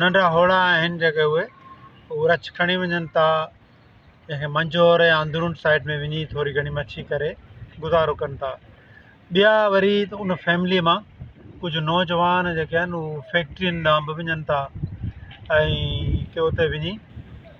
ننڍا هوڙا آهن جيڪي اهي هو رڇ کڻي وڃن ٿا جنهن کي منجهور يا اندرون سائيڊ ۾ وڃي ٿوري گهڻي مڇي ڪري گذارو ڪن ٿا ٻيا وري ان فيملي مان ڪجهه نوجوان جيڪي آهن هو فيڪٽرين ڏانهن به وڃن ٿا ۽ ڪي اتي وڃي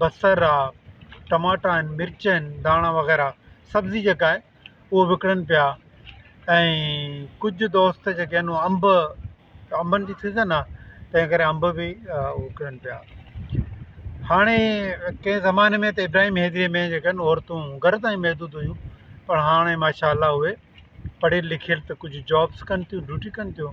بصر آ ٽماٽا آهن مرچ آهن ڌاڻا وغيره سبزي جيڪا آهي هو وڪڻن پيا ۽ ڪجهه دوست جيڪي آهن انب انبن جي سيزن آ تنهن ڪري انب به وڪڻن پيا هاڻي ڪنهن زماني ۾ ته ابراهيم هيدري ۾ جيڪي آهن عورتون گهر تائين محدود هيون پر هاڻي ماشاء الله اهي پڙهيل لکيل ته ڪجهه جابس ڪن ٿيون ڊيوٽي ڪن ٿيون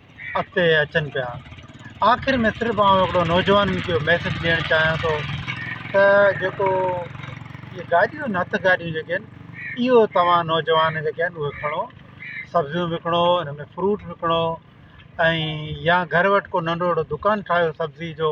اڳتي اچن پيا آخر ۾ صرف آئون هڪڙو نوجوان جو ميسج ڏيڻ چاهيان ٿو ته جيڪو هي گاڏيون آهن هٿ گاڏيون جيڪي آهن اهو توهان نوجوان جيڪي آهن اهي کڻو سبزيون وڪڻو ان ۾ فروٽ وڪڻو ۽ يا گهر وٽ ڪو ننڍو هڙو دڪان ٺاهيو سبزي جو